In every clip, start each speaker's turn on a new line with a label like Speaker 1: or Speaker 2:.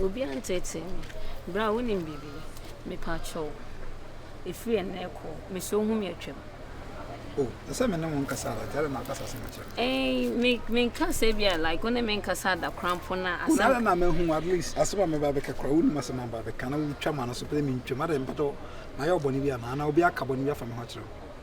Speaker 1: Obiara
Speaker 2: nteetee me. Bra wonim biribi? Mepakyɛw, ɛfiri ɛnnɛ rekɔ, mesɛ wo hu me atwam. Oh,
Speaker 1: ɛsɛ sɛ me ne wo nkasa ara, nti adɛn na akasa asɛm akyerɛ me? Ɛn, me,
Speaker 2: menkasa bi a, like, wo ne me nkasa adakrampo na asɛm. Wo nara na mahu, at least,
Speaker 1: asɛm a mɛba abɛka koraa, wonim asɛm a mɛba abɛka, na wotwa m'ano so pɛ sɛ mentwam, adɛn, mpatɔ, mayɛ wo bɔne bi anaa? Anaa obi aka bɔne bi afa me ho akyerɛ wo?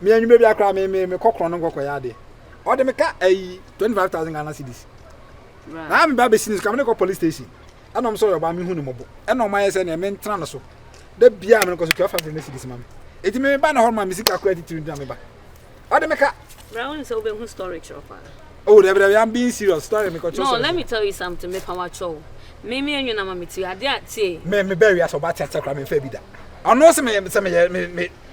Speaker 1: me anwummerɛ bia koraa me me me kɔ korɔn no nkɔ kɔyɛ adeɛ ɔde me ka ayi twenty five thousand Ghana cedis na me ba bɛsi ne so ka me ne kɔ police station ɛna ɔmo sɛ ɔyɛ ɔbaa me hu ne mɔbɔ ɛna ɔmo ayɛ sɛ neɛ me ntena no so da biara me no kɔ so twelve hundred ne cedis ma me eti me ba na hɔ ma me sika kora titiri ntina me ba ɔde me ka. Bra wɔn sɛ wobɛhu
Speaker 2: story kyerɛ paa. Oh, dabi dabi, I'm
Speaker 1: being serious. Story me kɔtɔ. No, let me tell you something.
Speaker 2: Me pa wa kyɛw. Me me enyo na ma me ti ade a tie. Me me bɛri asɔ ba
Speaker 1: tia tia kora me fɛ bi da. Ɔno sɛ me sɛ me me me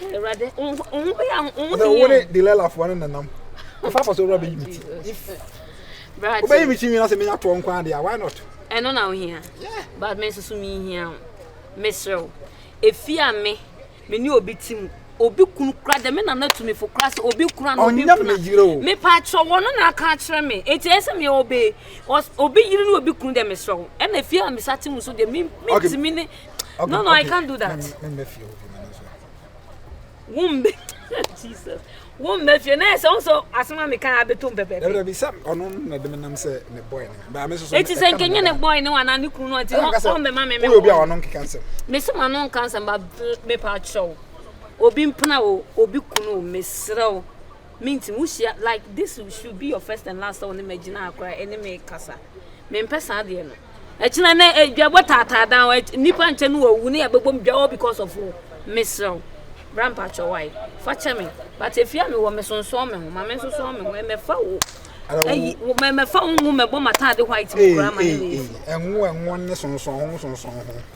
Speaker 1: Sɛ wo ne Delilah foɔ ne nenam. Afa afa so wura bɛyi me ti. If wobɛyi me ti nwina sɛ menya toɔ nko ade a, why not? Ɛno na wohia.
Speaker 2: But me nso
Speaker 1: so mehia
Speaker 2: wo. Mesrɛ wo. Efi a me, me ne obi ti mu. Obi kunu kura de me na na tumi fo kura sɛ obi kura na obi kuna. Ɔnyɛ me yire o. Me pa atwerɛ wɔn na aka akyerɛ me. Eti ɛyɛ sɛ me ɔbɛ. Obi yiri ne obi kunu de mesrɛ wo. Ɛna efi a me sa ti mu so de me, me tumi ne. Okay, no, no, okay. I can't do that.
Speaker 1: Wombe.
Speaker 2: Jesus. Wombe fie na ɛsɛ nso asoma mi kan abeto mpɛpɛ. Ɛbɛrɛ bi sɛ ɔno
Speaker 1: na de mi nam sɛ ne bɔyɛ ne ba mi soso. Eti sɛ nkenye ne bɔyɛ
Speaker 2: ne wa na ne kunu no ɔti ɔn bɛ ma mi mi. Oyo bi a ɔno nkeka nsɛm.
Speaker 1: Mesi ma no nka
Speaker 2: nsɛm ba mi pa akyerɛw. Obi mpena o obi kunu o mesrɛ o. Me nti wo hyia like this should be your first and last sɛ wo ne me gyina ha koraa ɛne me kasa me mpɛ saa deɛ no ɛkyina ne dwabɔ taataa dan nipa nkyɛ no wɔwu ne yɛbɛbɔ mu dwawɔ because of wo mesrɛw bra mpakyɛ wae fa kyɛ me but efia me wɔ me sonsɔn me ho ma me nsonsɔn me ho ɛmɛfa wo ɛyi wo mɛmɛfa wo nwo mɛbɔ m'ataade white mu koraa ma ne ne ɛnwo ɛnwo ne
Speaker 1: sonsɔn ho sonsɔn ho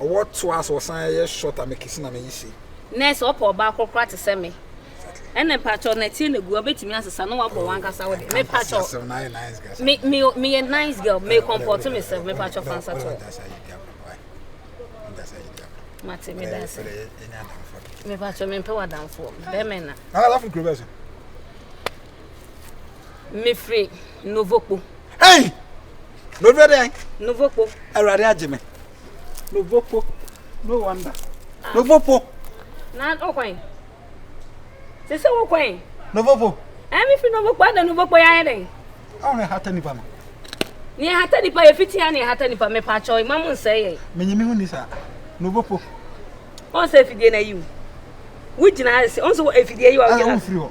Speaker 1: Ɔwɔ to a sɛ ɔsan yɛ short a mekese na meyi se. Nɛ sɛ ɔpɛ ɔbaa
Speaker 2: korokora te sɛ me ɛnɛ mpakyɛw nɛteɛ na gu a wobɛtumi asesa na wabɔ wankasa wo de mepakyɛw me me meyɛ nice girl me kɔmpɔto me sɛ mepakyɛw fansa to mate me da sɛ mepakyɛw mempɛ wadamfoɔ bɛmɛ na mefiri novokpo
Speaker 1: hey
Speaker 2: novokpo awurade agye me
Speaker 1: No vopo. No wonder. No vopo. Na
Speaker 2: okwan. Se se wo kwan. No vopo.
Speaker 1: Eh me fi no vopo
Speaker 2: ada no vopo ya yeden. Awo ne hata nipa
Speaker 1: no. Ne hata
Speaker 2: nipa ye fiti ya ne hata nipa me pa cho imam nse ye. Me nyimi hu ni sa.
Speaker 1: No vopo. On
Speaker 2: se fidie na yiw. Wo gyina ase. On se efidie yi wa wo gyina. Ah, wo firi hɔ.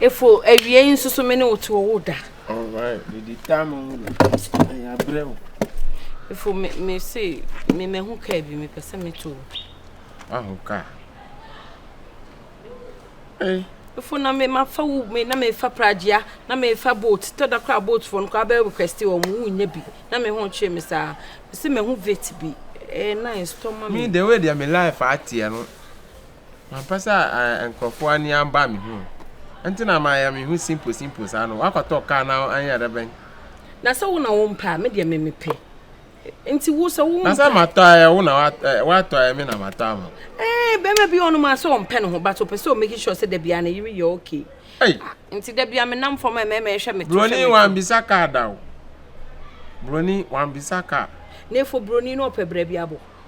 Speaker 2: Efo awie yi nso so me ne wo to wo da. Alright, mede
Speaker 3: tam wo no. Ɛyɛ abrɛ wo. Efo
Speaker 2: me me se me mahu kaa bi mepɛ sɛ meto wo. Wahu kaa.
Speaker 3: Ei. Efo na me
Speaker 2: mafa wo me na mefa pragya na mefa boat tɔ da kora boat fo no kora bɛ request wɔn mu wonya bi na me ho kyerɛ me saa. Me se mahu vet bi. Eh nice tɔ ma me. Me the way deɛ me life
Speaker 3: ateɛ no. Mampɛ sɛ nkorɔfoɔ ani aba me ho nti na mayɛ me ho simple simple saa no, woakɔtɔ car na anyɛ dɛ bɛn? Na sɛ wo na
Speaker 2: wompɛ a, me deɛ me mepɛ nti wo sɛ wompɛ. Na sɛ matɔ a ɛyɛ wo na
Speaker 3: woatɔ ɛyɛ me na matɔ ama wo. Ɛɛn bɛrima bi wɔ
Speaker 2: hɔnom a sɛ ɔmpɛ ne ho but ɔpɛ sɛ ɔ make sure sɛ dabiara ne yere yɛ okay ah nti
Speaker 3: dabiara me
Speaker 2: nam fam a mmarima ɛhwɛ me to hwɛ me to. Broni wambisa car
Speaker 3: da o, broni wambisa car. Nefo broni
Speaker 2: no ɔpɛ brɛ bi abɔ.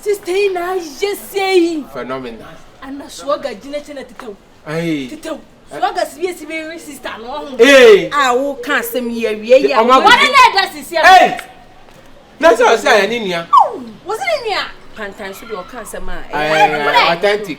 Speaker 4: Sister yi na ayɛ sei. Phenomenal.
Speaker 3: Ana suaga
Speaker 4: gyina kyɛ na tetɛw. Ayi. Tetɛw.
Speaker 3: Suaga
Speaker 4: si bi esi bi re sister no ho. Ee. A wo ka
Speaker 3: asɛm
Speaker 2: yi awie yi a. Ɔma bɔ. Wɔde na ɛda sisi
Speaker 4: a. Ee.
Speaker 3: Na sɛ ɔsɛ ayɛ ne nua. Wɔsi ne nua.
Speaker 4: Pantan so deɛ ɔka
Speaker 2: asɛm a. Ɛɛ authentic.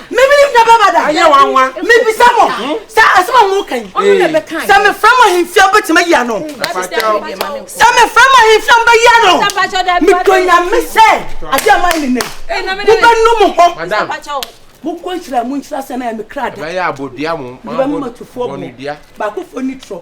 Speaker 5: mebiri fira bɛɛ ba da ayɛ wanwa
Speaker 3: mebisa mo hmm?
Speaker 5: sɛ asɛm a moka yi sɛ mefrɛ mo ahemfie wobɛtumi ayi ano sɛ mefrɛ mo ahemfie wobɛyi ano medɔ nyame sɛ ade ama nenɛ wobɛnu mo hɔ
Speaker 3: mokɔ
Speaker 5: nhyira mu nhyira sɛ na yɛ me kra da
Speaker 3: mebɛma matufoɔ bo
Speaker 5: baakofoɔ ni trɔ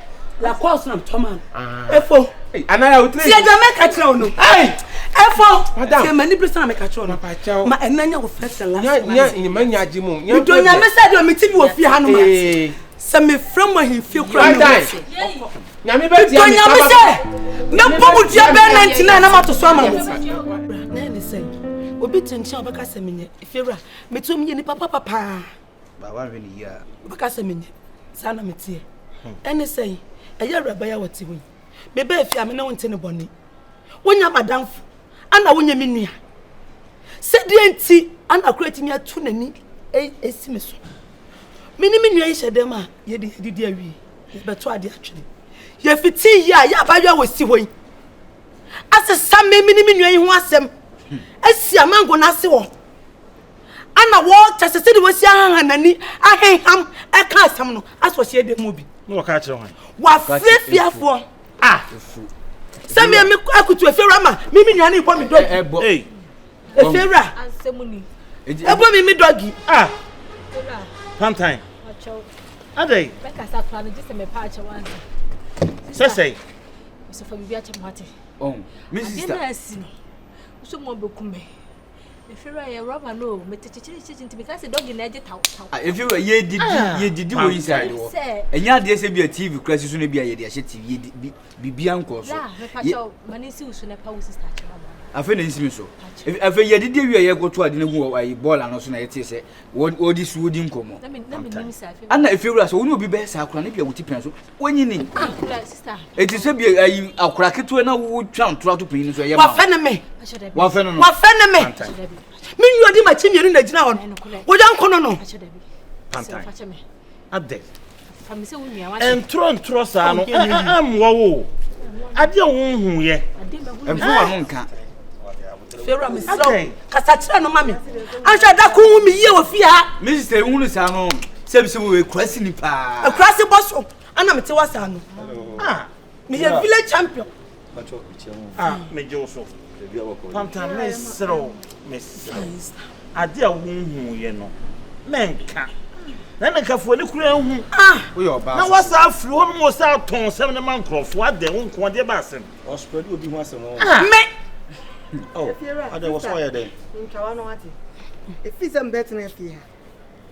Speaker 5: la kɔ so na tɔ ma no ah. efo tiɛ
Speaker 3: dɛ mɛ ka kyerɛ wo no
Speaker 5: efo tiɛ mɛ ni bi sɔn na mɛ ka kyerɛ wo no ma ɛna nya wo fɛ sɛ la mi
Speaker 3: do nya mi sɛ de o
Speaker 5: mi ti bi o fi ha no ma sɛ mi fira mo ahin fi kura mi wɔ so
Speaker 3: mi do nya mi sɛ
Speaker 5: mɛ bɔ mu diɛ bɛɛ nɛ ntina ɛna ma to so ama mo. obi te nkyɛn a ɔbɛka sɛ menyɛ fiewura metum yɛ nipa papa paa Ba
Speaker 6: wanhwɛ ne yie a. Wobɛka sɛ menyɛ,
Speaker 5: saa na meteɛ. Ɛne sɛn? Ɛyɛ awuraba yi a wɔte hɔ yi. Mebaa fie a me ne wo nte ne bɔne. Wonya madamfo ana wonyɛ me nua? Sɛdeɛ nti ana koro atumi ato n'ani asi me so. Me ne me nua yi hyɛ dɛm a yɛde yɛdidi awie yɛbɛto ade atwene. Yɛfiti yie a yɛ abayewa a wɔsi hɔ yi asesa me me ne me nua yi ho asɛm asi amango no ase wɔ hɔ. ana wɔkyɛ sɛ sɛdeɛ wasi ahaha n'ani aheham ɛka asɛm no asɔ hyɛ dɛm mu bi wafrɛ
Speaker 7: fiafoɔ
Speaker 5: a sɛ me me akutu efiewura ma me me nuane bɔ me dɔgi efiewura
Speaker 4: ɛbɔ me me
Speaker 5: dɔgi ah pantan
Speaker 7: adai mɛkasa kora no
Speaker 4: gye sɛ mepa akyɛ wansa
Speaker 7: sɛsɛe sɛ
Speaker 4: fa biribi akyɛ mo ate oh,
Speaker 6: adeɛ no asi no
Speaker 4: wosɛ mu abɛku me Efira yɛ rɔba no o, mete kyekyerekyekye nti meka sɛ dɔgi na ɛgye taw taw. Ah, Efira yɛdidi
Speaker 6: ah. yɛdidi wɔ inside hɔ. Ɛnyɛ adeɛ sɛ bi a TV kura si so no bi a yɛde ahyɛ TV yɛdi bi bibia nkɔ so. Bra, mepakyɛw, ma ne
Speaker 4: nsi wo so na pa wo sister kyerɛ ma. Afei na nsi me so.
Speaker 6: Afei yɛdidi awie a yɛkɔto ade no gu wɔ ayi bɔɔla no so na yɛte sɛ wɔde si wodi nkɔmmɔ.
Speaker 4: Ana Efira sɛ wo ne obi
Speaker 6: bɛyɛ saa koraa ne bi a wo ti pɛn so wonyi ni. eti
Speaker 4: sɛ bi ayi
Speaker 6: akora ketewa na wo twa ntora to panyin so ɛyɛ ma wafɛ ne me
Speaker 5: wafɛ ne no wafɛ
Speaker 6: ne me
Speaker 5: me nyi odi ma kyi mmienu na gyina hɔ no woyɛ nko no no pantan
Speaker 7: adɛ
Speaker 4: ntorɔ ntorɔ saa no
Speaker 7: ɛmmoa wo adeɛ wo nhu yɛ ɛmfa wa no
Speaker 6: nka Fewura
Speaker 5: mi srɛ wo kasa kyerɛ no ma mi ahwɛ da ko hu mi yie wɔ fie ha. Mi sista ehu no saa no
Speaker 6: sɛ bi sɛ wɔ ekurasi ni paa. Ekurasi bɔ so
Speaker 5: ɛna mi ti wɔ saa no. Ah mi yɛ village champion. Patsɔ ekyɛ mu.
Speaker 7: Ah mi gye wo so. Ebi awɔ kɔ. Panta mi srɛ wo mi srɛ wo ade a wo hu yɛ no mɛ nka na ne nkafoɔ ne kura ehu. Ah na
Speaker 6: wasa afiri hɔ nom wɔ
Speaker 7: sɛ atɔn sɛm ne ma nkorɔfoɔ adɛ wo nko ɔdeɛ ba asɛm. ɔspread obi ho asɛm
Speaker 8: ɔn. Ah! Me.
Speaker 5: Oh, adɛ
Speaker 8: wɔ so ayɛ dɛ. Ntwawa no
Speaker 9: ate. Efi sɛ mbɛtena fie ha.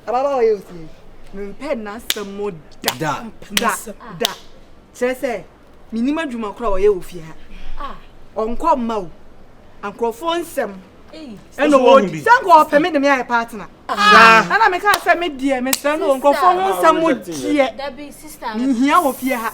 Speaker 9: Ababa ɔyɛ osie. Mempɛ n'asɛm mo da. Da. Da. Da. Kyerɛ sɛ menim adwuma kora ɔyɛ wɔ fie ha. Ah. Ɔnkɔ mma o. Ankorɔfoɔ nsɛm. Ɛna wɔdi. Sɛ nkɔ ɔpɛ me de me ayɛ partner. Ah. Ɛna meka sɛ me deɛ mesrɛ no nkorɔfoɔ ho nsɛm mo deɛ. Dabi sister.
Speaker 4: Menhia wɔ fie ha.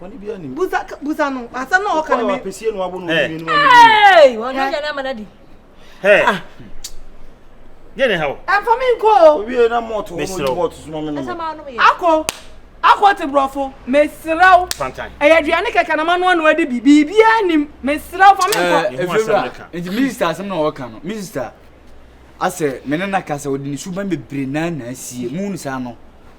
Speaker 9: Wani bi ani. Busa
Speaker 8: busa no. Asɛm na ɔka no me. Apesie no abo no eh. ni ni. Hey, wɔn nyɛ nyɛ
Speaker 4: n'ama n'adi. Hey. Ah.
Speaker 7: Yɛ ne ha o. Ɛnfa mi nko o. Obi
Speaker 9: yɛ na mɔɔto wɔn ni
Speaker 8: mɔɔto suma mi nɔmɔ. Akɔ
Speaker 9: akɔ te borɔfo mesrɛw ɛyɛ aduane
Speaker 7: kɛkɛ na manoa
Speaker 9: no adi bi biribiaa nim mesrɛw fa me nkɔ ɛfiwura eh, eh, nti
Speaker 6: minista asɛm na wɔka no minista asɛ mene na ka sɛ wɔde ne suban bebree naa na asie mu no saa no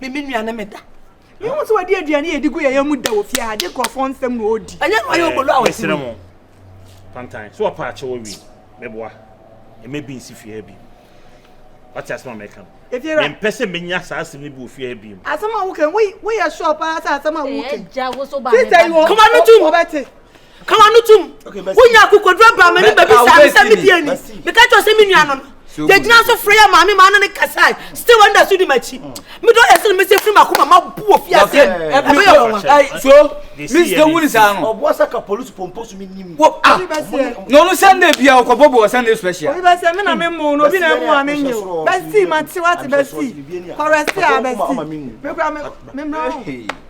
Speaker 8: meme nua ne meda
Speaker 5: mehu sɛ wɔde aduane yɛdi gu yɛyɛ mu da wɔ fie ha gye nkurɔfoɔ nsɛm na ɔdi ɛnyɛ no ayɛ ɔbɔlu a wɔsere mu
Speaker 7: pantan so wɔpa akyɛ wɔ wie meboa ɛmɛ bi nsi fie ha bi wate asɛm a mɛka no mempɛ sɛ
Speaker 9: menya saa
Speaker 7: asɛm no bi wɔ fie ha bi mu asɛm a wokɛ
Speaker 9: woyɛ sure paa sɛ asɛm a wokɛ sisɛ yi
Speaker 4: wɔ kɔma no tum
Speaker 5: wɔbɛte Ka w'ano tom. Wonya akokoduro baa m'anim bɛbisaa me sɛ me fie ni. Meka kyerɛ sɛ me nua no no. Yɛgyina so frɛ yɛ maame maa no ne kasae. Still wanda so di m'akyi. Medɔ yɛ sene me sɛ firi m'akoma ma bu wɔ fie ase. Ɛbɛyɛ wɔwa.
Speaker 6: So Miss ka wuni saa no. Ɔboa sɛ ka polisi
Speaker 8: pompo so me nim. Wo ah.
Speaker 6: Na ɔno Sunday bia ɔkɔbɔ bɔ Sunday special. Obi bɛ sɛ me na me mo
Speaker 9: no obi na emu a me nyew. Bɛsi ma te wate bɛsi. Kɔrɛsi a bɛsi. Me kura me me mra.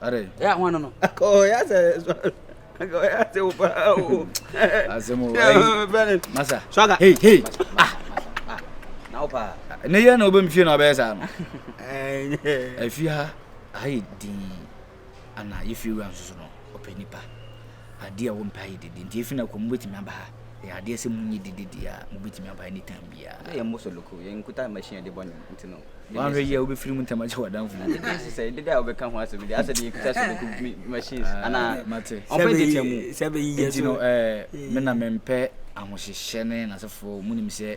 Speaker 10: Are. Ya ho
Speaker 6: no no.
Speaker 10: Ko ya se so. Ko ya se wo pa o. Asemo.
Speaker 6: Bene. Masa. Swaga. Hey hey.
Speaker 10: Ah. Na wo pa. Ne ye na obem fie
Speaker 6: na obeye sa no. Eh. Afia. Ayi di. Ana ye fie wan so no. Openipa. Adeɛ a wɔmpɛ ayɛ dede nti efi na kɔ mobɛtumi aba ha ɛyɛ adeɛ sɛ monyɛ dede deɛ a mobɛtumi aba anytime biara. Na yɛn mmɔ sɔloko yɛn
Speaker 10: nkuta machine a yɛde bɔ nnwom nti no. Wanhwɛ yie a wobɛfiri mu
Speaker 6: ntɛm akyɛ w'adamfo bi. Dede nso sɛ dede a wobɛka
Speaker 10: ho asɛm deɛ asɛ deɛ yɛkuta sɔloko machines ah, anaa mate ɔmpɛ deɛ kyɛ
Speaker 6: mu
Speaker 10: nti no
Speaker 6: ɛɛ me na mempɛ ahohyehyɛ ne n'asefoɔ monim sɛ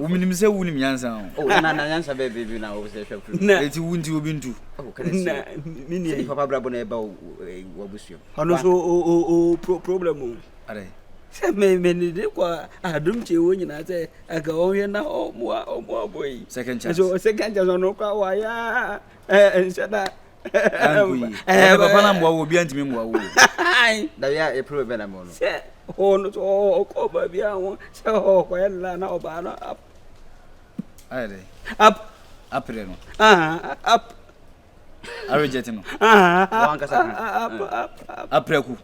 Speaker 10: womenim sɛ wonim nyansa hoɛti wo nti obi ntu ɔno so problem sɛ menede kɔ adom kye wɔ nyinaa sɛ aka ɔhwɛ na ɔmoabɔ yi second
Speaker 6: chance ɔno kora
Speaker 10: wayɛ nhyɛ da
Speaker 6: ɛɛ papa na mmoa wo obi antumi mmoa wo na yɛ a
Speaker 10: ɛpere bɛ na mmoa no sɛ hɔ no so ɔkɔ baabi a ho sɛ ɔkɔyɛ no la na ɔbaa no ap
Speaker 6: ayɛ dɛ ap apere no ap arejɛte no wankasa aprɛku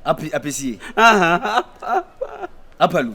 Speaker 6: api apesie apalu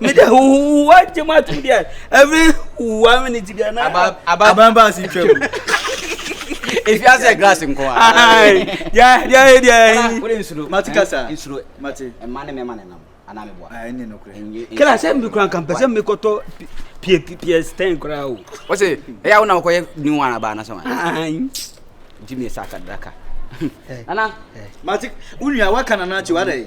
Speaker 10: mede wowa gye m atom deɛ every wowa minute bia na aban baa se
Speaker 6: twam
Speaker 10: ɛfia sɛ glass nko mate kasa
Speaker 6: kra sɛ mekora nka
Speaker 10: mpɛ sɛ mekɔtɔ ps10 koraa o wɔse ɛyɛ wo na wokɔyɛ new one abaa na sɛ wa gyimi
Speaker 6: sɛ akadaka
Speaker 10: nana
Speaker 6: mate wo nua woaka nana
Speaker 10: akyi wadɛ